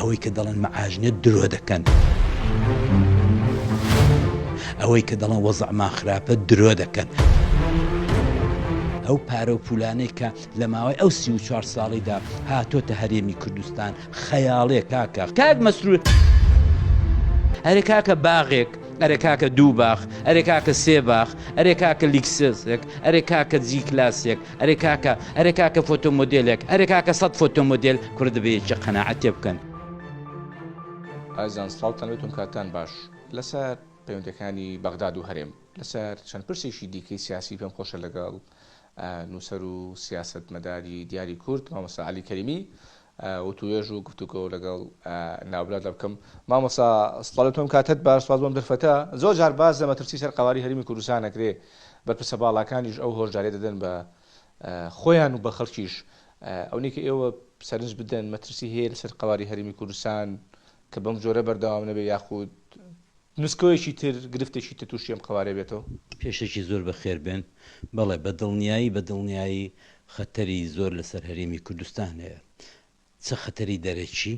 ئەوەی کە دەڵێن مەعاژنە درۆ دەکەن. ئەوەی کە دەڵێن وەزعمان خراپە درۆ دەکەن. ئەو پارە و پولانەی کە لە ماوەی ئەو سی و چوار ساڵیدا هاتۆتە هەرێمی کوردستان خەیاڵێ کاکە کاک مەسرور. ئەرێ کاکە باغێک ئەرێ کاکە دوو باخ ئەرێ کاکە سێ باخ ئەرێ کاکە لیکسێسێک ئەرێ کاکە جی کلاسێک ئەرێ کاکە ئەرێ کاکە فۆتۆمۆدێلێک ئەرێ کاکە سەد فۆتۆمۆدێل کورە دەبێ یەکێ قەناعەت تێ بکەن. ئازیزان سڵاوتان لێت بم کاتتان باش لەسەر پەیوەندیەکانی بەغداد و هەرێم لەسەر چەند پرسێکی دیکەی سیاسی پێم خۆشە لەگەڵ نووسەر و سیاسەتمەداری دیاری کورد مامۆستا عەلی کەریمی وتوێژ و گفتوگۆ لەگەڵ ناوبراو دەبکەم. مامۆستا سڵاوی تۆم کاتت باش سپاس بۆم دەرفەتە زۆر جار باس لە مەترسی سەر قەواری هەرێمی کوردستان ئەکرێ بەرپرسە باڵاکانیش ئەو هۆشداریە دەدەن بە خۆیان و بە خەڵکیش ئەونەی کە ئێوە سەرنج بدەن مەترسی هەیە لەسەر قەواری هەرێمی کوردستان کە بەم جۆرە بەردەوام نەبێ یاخود نسکۆیەکی تر گرفتێکی تر تووشی ئەم قەوارەیە بێتەوە؟ پێشەکی زۆر بەخێربێن، بەڵێ بە دڵنیایی بە دڵنیایی خەتەری زۆر لەسەر هەرێمی کوردستان هەیە، چ خەتەری دەرەکی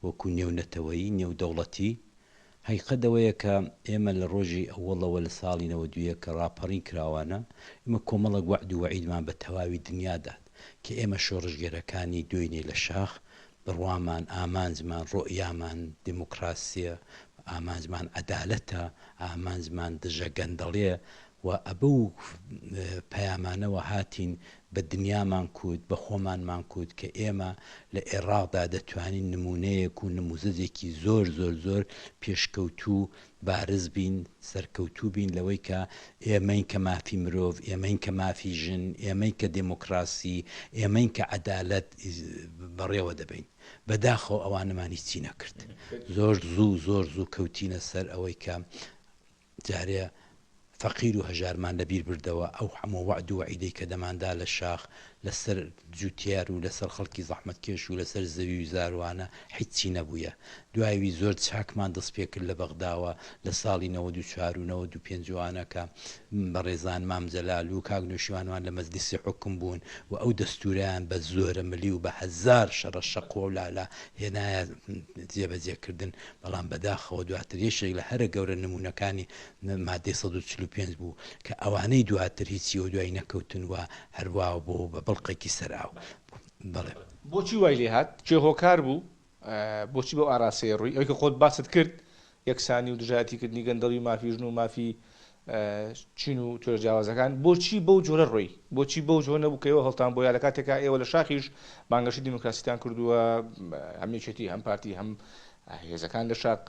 وەکو نێو نەتەوەیی، نێو دەوڵەتی، هەقیقەت ئەوەیە کە ئێمە لە ڕۆژی ئەوەڵەوە لە ساڵی نەوەد و یەک کە ڕاپەڕین کراوانە ئێمە کۆمەڵێک وەعد و وەعیدمان بە تەواوی دنیا دات کە ئێمە شۆڕشگێرەکانی دوێنێ لە شاخ بڕوامان، ئامانجمان، ڕۆئیامان دیموکراسیە، ئامانجمان عەدالەتە، ئامانجمان دژە گەندەڵیە و ئەبەو پەیامانەوە هاتین بە دنیامان کووت، بە خۆمانمان کووت کە ئێمە لە ئێڕاقدا دەتوانین نموونەیەک و نمووزەجێکی زۆر زۆر زۆر پێشکەوتوو بارز بین سەرکەوتوو بین لەوەی کە ئێمەین کە مافی مرۆڤ ئێمەین کە مافی ژن ئێمەین کە دێمۆکڕاسی ئێمەین کە عەدالەت بەڕێوە دەبەین بەداخەوە ئەوانەمان هیچی نەکرد زۆر زوو زۆر زوو کەوتینە سەر ئەوەی کە جارێ فەقیر و هەژارمان لەبیر بردەوە، ئەو هەموو وەعد و وەعیدەی کە دەماندا لە شاخ، لە سەر جوتیار و لە سەر خەڵکی زەحمەتکێش و لە سەر زەوی و زاروانە هیچی نەبوویە. دوای وی زۆر چاکمان دەست پێ کرد لە بەغداوە لە ساڵی نەوەد و چوار و نەوەد و پێنج وانە کە بەڕێزان مام جەلال و کاک نەوشیروانمان لە مەجلیسی حوکم بوون و ئەو دەستوورەیان بە زۆرە ملی و بە هەزار شەڕە شەقوە و لالا هێنایە جێ بە جێ کردن بەڵام بەداخەوە دواتر یەکێک لە هەرە گەورە نموونەکانی مادەی سەد و چل و پێنج بوو کە ئەوانەی دواتر هیچی و دوای نەکەوتن و هەر وا بوو بە بڵقێکی سەر ئاو. بەڵێ. بۆچی وای لێ هات؟ کێ هۆکار بوو؟ بۆچی بەو ئاراستەیە ڕووی؟ ئەوەی کە خۆت باست کرد، یەکسانی و دژایەتی کردنی گەندەڵی و مافی ژن و مافی چین و توێژ جیاوازەکان، بۆچی بەو جۆرە ڕۆی؟ بۆچی بەو جۆرە نەبوو کە ئێوە هەڵتان بۆیا لە کاتێکا ئێوە لە شاخیش بانگەشەی دیموکراسیتان کردووە، هەم یەکێتی هەم پارتی هەم هێزەکان لە شاخ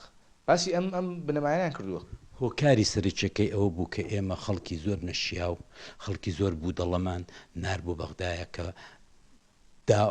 باسی ئەم ئەم بنەمایانەیان کردووە. هۆکاری سەرەکیەکەی ئەوە بوو کە ئێمە خەڵکی زۆر نەشیاو، خەڵکی زۆر بودەڵەمان نارد بۆ بەغدایە کە دا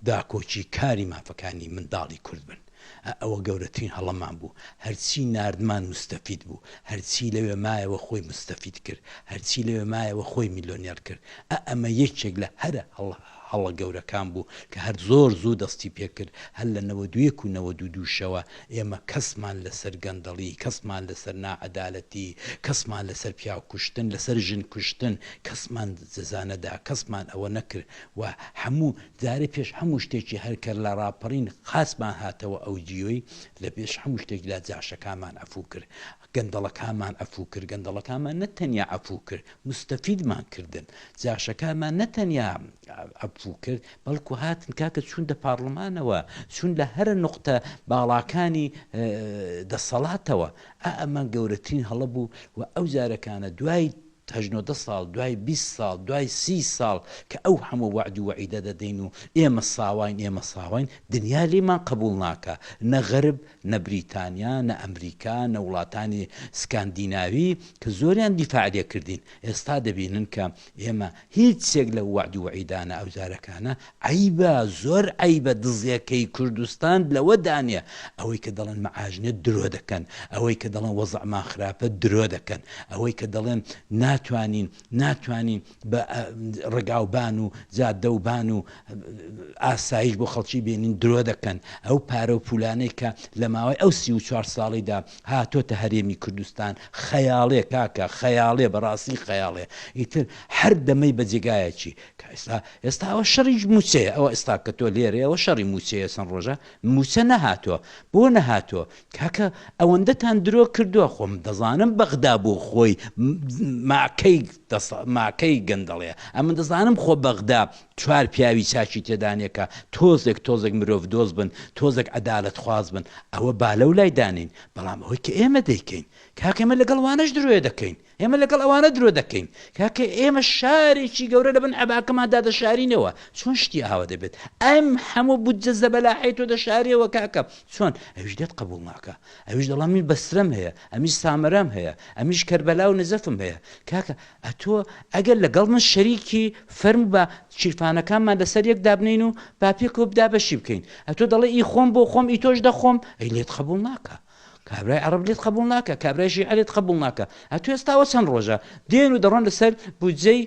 داکۆکی کاری مافەکانی منداڵی کورد بن. ئە ئەوە گەورەترین هەڵەمان بوو. هەرچی ناردمان موستەفید بوو. هەرچی لەوێ مایەوە خۆی موستەفید کرد. هەرچی لەوێ مایەوە خۆی میلۆنێر کرد. ئە ئەمە یەکێک لە هەرە هەڵە. هەڵە گەورەکان بوو کە هەر زۆر زوو دەستی پێ کرد، هەر لە نەوەد و یەک و نەوەد و دوو شەوە ئێمە کەسمان لەسەر گەندەڵی، کەسمان لەسەر ناعەدالەتی، کەسمان لەسەر پیاو کوشتن، لەسەر ژن کوشتن کەسمان جەزا نەدا، کەسمان ئەوە نەکرد و هەموو جارێ پێش هەموو شتێکی هەر کە لە ڕاپەڕین خاسمان هاتەوە ئەو جیۆی لە پێش هەموو شتێک لا جاشەکانمان عەفوو کرد. گەندەڵەکانمان عەفوو کرد، گەندەڵەکانمان نە تەنیا عەفوو کرد، موستەفیدمان کردن، جاشەکانمان نە تەنیا عەفوو کرد، بەڵکو هاتن کاکە چوون دە پارڵمانەوە، چوون لە هەرە نوقتە باڵاکانی دەسەڵاتەوە، ئا ئەمە گەورەترین هەڵە بوو و ئەو زارەکانە دوای، هەشت نۆ دە ساڵ دوای بیست ساڵ دوای سی ساڵ کە ئەو هەموو وەعد و وەعیدە دەدەین و ئێمە ساواین ئێمە ساواین دنیا لێمان قبوڵ ناکا نە غەرب نە بریتانیا نە ئەمریکا نە وڵاتانی سکاندیناوی کە زۆریان دیفاع لێ کردین ئێستا دەبینن کە ئێمە هیچ یەک لەو وەعد و وەعیدانە ئەوجارەکانە عەیبە زۆر عەیبە دزەکەی کوردستان لەوە دانێ ئەوەی کە دەڵێن معاش نیە درۆ دەکەن ئەوەی کە دەڵێن وەزعمان خراپە درۆ دەکەن ئەوەی کە دەڵێن ناتوانین ناتوانین بە ڕگاوبان و جادەوبان و ئاسایش بۆ خەڵکی بێنین درۆ دەکەن ئەو پارە و پولانەی کە لە ماوەی ئەو سی و چوار ساڵیدا هاتۆتە هەرێمی کوردستان خەیاڵێ کاکە خەیاڵێ بەڕاستی خەیاڵێ ئیتر هەر دەمەی بە جێگایەکی کە ئێستا ئێستا ئەوە شەڕی مووچەیە ئەوە ئێستا کە تۆ لێرەی ئەوە شەڕی مووچەیە چەند ڕۆژە مووچە نەهاتووە بۆ نەهاتووە کاکە ئەوەندەتان درۆ کردووە خۆم دەزانم بەغدا بۆ خۆی ماکەی ماکەی گەندەڵەیە ئەمن دەزانم خۆ بەغدا چوار پیاوی چاچی تێدانێکە تۆزێک تۆزێک مرۆڤ دۆز بن تۆزێک عدالت خواز بن ئەوە بالە و لای دانین بەڵام ئەوەی کە ئێمە دەیکەین کاکەمە لەگەڵ وانەش درۆێ دەکەین ئێمە لەگەڵ ئەوانە درۆ دەکەین کاکە ئێمە شارێکی گەورە لە بن عباکەمان دادەشارینەوە چۆن شتی ئاوا دەبێت ئەم هەموو بودجە زەبەلاحی تۆ دەشارەوە کاکە چۆن ئەوش دێت قبول ناکە ئەوش دەڵام من بەسرەم هەیە ئەمیش سامرام هەیە ئەمیش کەربەلا و نەزەفم هەیە کاکە ئەتۆ ئەگەر لەگەڵ من شەریکی فەرم بە چیرفانەکانمان لەسەر یەک دابنین و باپێکەوە بدا بەشی بکەین ئەتۆ دەڵێ ئی خۆم بۆ خۆم ئی تۆش دەخۆم ئەی لێت قبول ناکە کابرای عەڕەب لێت قەبوڵ ناکا کابرای شیعە لێت قەبوڵ ناکا ئەتوو ئێستا ئەوە چەند ڕۆژە دێن و دەڕۆن لەسەر بودجەی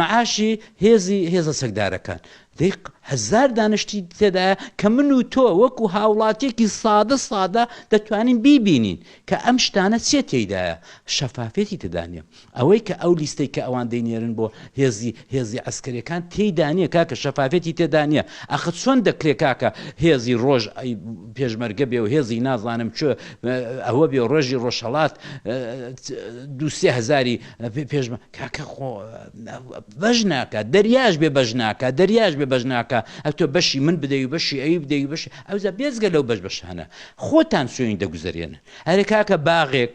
مەعاشی هێزی هێزە چەکدارەکان دەیق هەزار دانشتی تێدایە کە من و تۆ وەکو هاوڵاتیەکی سادە سادە دەتوانین بیبینین کە ئەم شتانە چێ تێدایە شەفافێتی تێدانە ئەوەی کە ئەو لیستەی کە ئەوان دەینێرن بۆ هێزی هێزی عەسکەریەکان تێیدا نیە کاکە شەفافێتی تێدا نیە ئاخە چۆن دەکرێ کاکە هێزی ڕۆژ ی پێشمەرگە بێ و هێزی نازانم چ ئەوە بێ و ڕۆژی ڕۆژهەڵات دوو سێ هەزاری پێشمە کاکە خۆ بەش ناکە دەریاش بێ بەش ناکە دەریاش بێ بەش ناکە ئە تۆ بەشی من بدەی و بەشی ئەوی بدەی بەش ئەوزە بێزگە لەو بەش بەشانە خۆتان سوێنی دەگوزەرێنن هەرێ کاکە باغێک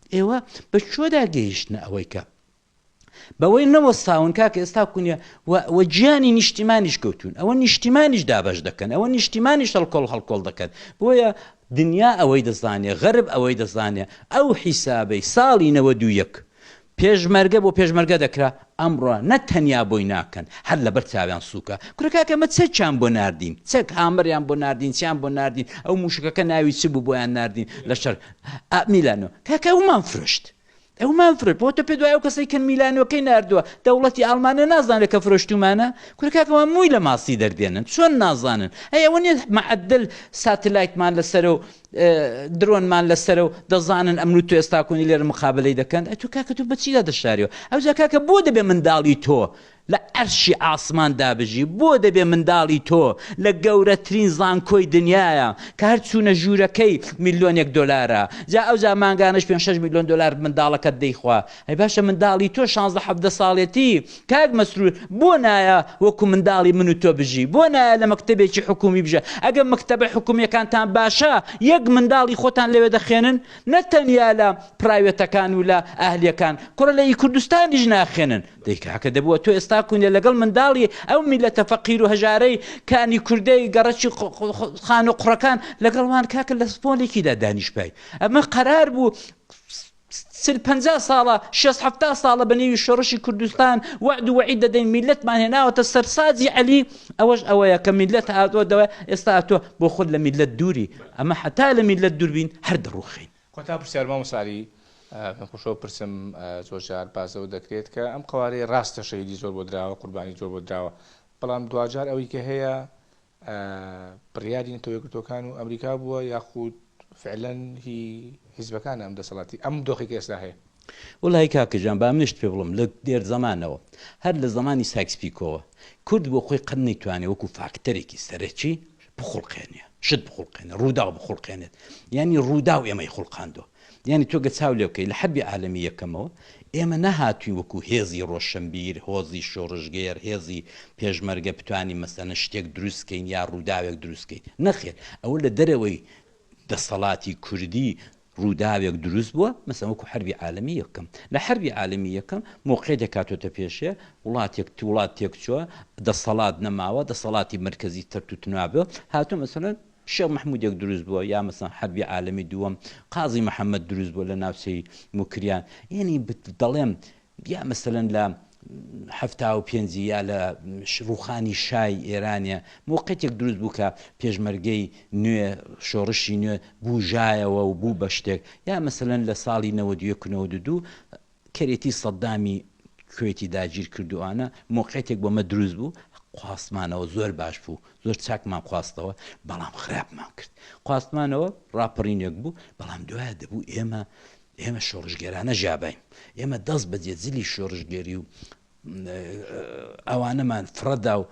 ئێوە بە کوێدا گەیشتنە ئەوەی کە بەوەی نەوەستاون کاکە ئێستا کونیە و گیانی نیشتیمانیش کەوتون ئەوە نیشتیمانیش دابش دەکەن ئەوە نیشتیمانیش هەڵکۆڵ هەڵکۆڵ دەکەن بۆیە دنیا ئەوەی دەزانێ غەرب ئەوەی دەزانێ ئەو حیسابەی ساڵی نەوە دوو یەک پێشمەرگە بۆ پێشمەرگە دەکرا ئەمڕۆ نە تەنیا بۆی ناکەن هەر لەبەر چاویان سوکە کورە کاکە ئمە چەکیان بۆ ناردین چەک هامەریان بۆ ناردین چیان بۆ ناردین ئەو موشەکەکە ناوی چ بوو بۆیان ناردین لە شەر ئا میلانۆ کاکە ئەومان فرۆشت ئەومان فرۆشت بۆ تۆ پێ دوای ئەو کەسەی کە میلانۆکەی ناردووە دەوڵەتی ئاڵمانە نازانێت کە فرۆشتومانە کورە کاکە ئەوان مووی لە ماستی دەردێنن چۆن نازانن ئەی ئەوە نیە معەدەل ساتلایتمان لەسەرە و درۆنمان لەسەرە و دەزانن ئەمن و تۆ ئێستاکۆنی لێرە مقابەلەی دەکەن، ئەی تۆ کاکە تۆ بەچیدا دەشاریەوە؟ ئەوجا کاکە بۆ دەبێ منداڵی تۆ لە عەرشی ئاسمان دابژی؟ بۆ دەبێ منداڵی تۆ لە گەورەترین زانکۆی دنیایە کە هەر چوونە ژوورەکەی ملیۆنێک دۆلارە، جا ئەوجا مانگانەش پێنج شەش ملیۆن دۆلار منداڵەکەت دەیخوا، ئەی باشە منداڵی تۆ شانزدە حەڤدە ساڵێتی کاک مەسرور بۆ نایە وەکو منداڵی من و تۆ بژی بۆ نایە لە مەکتەبێکی حکومی بژە ئەگەر مەکتەبە حکومیەکانتان باشە یەک منداڵی خۆتان لەوێ دەخێنن نە تەنیا لە پرایوێتەکان و لە ئەهلیەکان کوڕە لە ئی کوردستانیش ناخێنن دەی کاکە دەبووە تۆ ئێستا کونیە لەگەڵ منداڵی ئەو میلەتە فەقیر و هەژارەی کانی کوردەی گەڕەکی خان و قڕەکان لەگەڵ وان کاکە لە پۆلێکیدا دانیشپای ئەمە قەرار بوو چل پەنجا ساڵە شێست حەفتا ساڵە بە نێوی شۆڕشی کوردستان وەعد و وەعید دەدەین میللەتمان هێناوەتە سەر ساجی عەلی ئەوەش ئەوەیە کە میللەت هاتووە دەوە ئێستا هاتووە بۆ خۆت لە میللەت دووری ئەمە حەتا لە میللەت دووربین هەر دەڕوخین کۆتا پرسیار مامۆستا عەلی پێم خۆشەوە پرسم زۆر جار باس لەوە دەکرێت کە ئەم قەوارەی ڕاستە شەهیدی زۆر بۆ دراوە قوربانی زۆر بۆ دراوە بەڵام دواجار ئەوەی کە هەیە بڕیاری نەتەوە یەکگرتووەکان و ئەمریکا بووە یاخود فعلەن هی حیزبەکانە ئەم دەسەڵاتی ئەم دۆخی کە ئێستا هەیە؟ وەڵایی کاکە گیان با منیشت پێ بڵێم لە دێر زەمانەوە هەر لە زەمانی سایکس پیکۆوە کورد بۆ خۆی قەت نەیتوانێ وەکوو فاکتەرێکی سەرەکی بخوڵقێنێ شت بخوڵقێنێ ڕووداو بخوڵقێنێت یانی ڕووداو ئێمەی خوڵقاندووە یانی تۆ گە چاو لێبکەی لە حەربی عالەمی یەکەمەوە ئێمە نەهاتوین وەکو هێزی ڕۆشەنبیر هۆزی شۆڕشگێر هێزی پێشمەرگە بتوانین مەسەنە شتێک دروست کەین یا ڕوداوێک دروست کەین نەخێر ئەوە لە دەرەوەی دەسەڵاتی کوردی ڕوداوێک دروست بوە مەسەن وەکو حەربی عالەمی یەکەم لە حەربی عالەمی یەکەم مۆقعی دەکاتۆتە پێشێ وڵاتێک تو وڵات تێک چوە دەسەڵات نەماوە دەسەڵاتی مرکزی تەرتوتنوابێ هاتۆ مەسەن شێخ مەحمودێک دروست بووە یا مەسەڵەن حەربی عالەمی دووەم قازی محەمەد دروست بووە لە ناوچەی موکریان یەنی دەڵێم یا مەسەلەن لە حەفتا و پێنجی یا لە ڕوخانی شای ئێرانە موقعتێک دروست بوو کە پێشمەرگەی نوێ شۆڕشی نوێ بوژایەوە و بوو بە شتێک یا مەسەلەن لە ساڵی نەوەدیە کنەوە دوو کەرێتی سەدامی کوەیتی داگیر کردوانە مۆقعیتێک بۆ مە دروست بوو خواستمانەوە زۆر باش بوو زۆر چاکمان خواستەوە بەڵام خراپمان کرد خواستمانەوە ڕاپەڕینێک بوو بەڵام دوایە دەبوو ئێمە ئێمە شۆڕشگێرانە ژابین ئێمە دەست بەجێ زلی شۆڕشگێری و ئەوانەمان فڕەدا و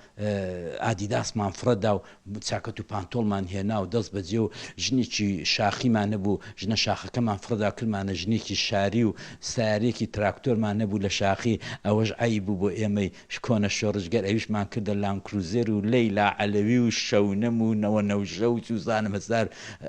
ئادیداسمان فڕەدا و چاکەت و پانتۆڵمان هێنا و دەست بەجێ و ژنێکی شاخیمان نەبوو ژنە شاخەکەمان فڕەدا کردمانە ژنێکی شاری و سارێکی تراکتۆرمان نەبوو لە شاخی ئەوەش عەیب بوو بۆ ئێمەی کۆنە شۆڕشگەر ئەویشمان کردە لانکروزێر و لەیلا عەلەوی و شەونم و نەوە نەوژەوت و زانم هەزار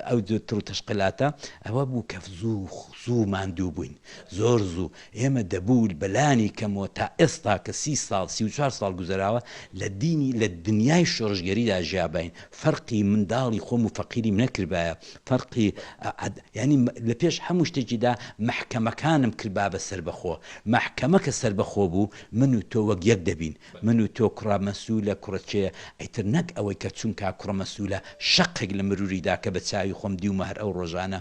ئەو جۆر تڕ و تەشقلاتە ئەوە بوو کە زوو زوو ماندوو بووین زۆر زوو ئێمە دەبوو بە لانی کەم و تا ئێستا کە سی ساڵ سی و چوار ساڵ گوزەراوە لە دینی لە دنیای شۆڕشگێریدا ژیاباین فەرقی منداڵی خۆم و فەقیریم نەکردبایە فەرقی ئا یانی لە پێش هەموو شتێکیدا مەحکەمەکانم کردبا بە سەربەخۆ مەحکەمە کە سەربەخۆ بوو من و تۆ وەک یەک دەبین من و تۆ کوڕە مەسولە کوڕە کێ ئیتر نەک ئەوەی کە چونکا کوڕە مەسولە شەقێک لە مروری دا کە بە چاوی خۆم دیومە هەر ئەو ڕۆژانە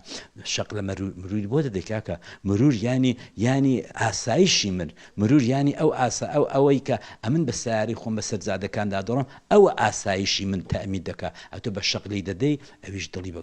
شەق لە مەرور مروری بۆ دەدەی کاکە مرور یانی یانی ئاسایشی من مرور یانی ئەو ئاسا ئەو ئەوەی کە ئەمن بە سەیارەی خۆم بە سەر جادەکان دا دەڕۆم ئەوە ئاسایشی من تەئمین دەکا ئەتۆ بە شەق لێی دەدەی ئەویش دڵی بە